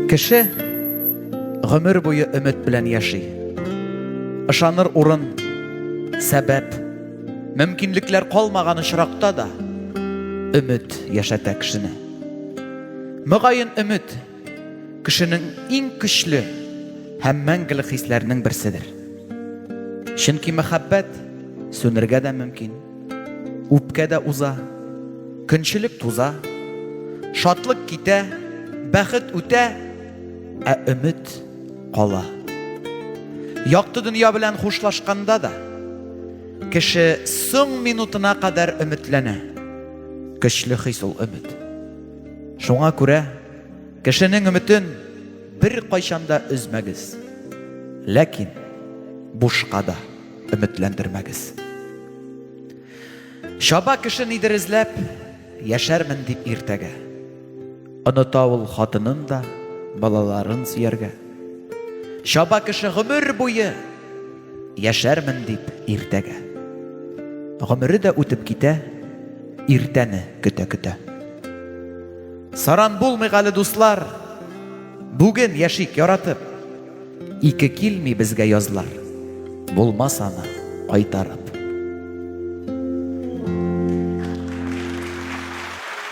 Кеше гомер буе өмет белән яши. Ышаныр урын, сәбәп, мөмкинлекләр калмаган очракта да өмет яшәтә кешене. Мөгаен өмет кешенең иң көчле һәм мәңгелек хисләренең берседер. Чөнки мәхәббәт сүнергә дә мөмкин, үпкә дә уза, көнчелек туза, шатлык китә, бәхет үтә, ә өмет кала. Якты дөнья белән хушлашканда да кеше соң минутына кадәр өметләнә. Көчле хис ул өмет. Шуңа күрә кешенең өметен бер кайчанда өзмәгез. Ләкин бушка да өметләндермәгез. Чаба кеше нидер эзләп, яшәрмен дип иртәгә. Оныта ул хатынын да, балаларын сөяргә. Чаба кеше гомер буе Яшәрмен дип иртәгә. Гомере дә үтеп китә, иртәне көтә-көтә. Саран булмыйк әле, дуслар, бүген яшик яратып. Ике килми безгә язлар, булмас аны кайтарып.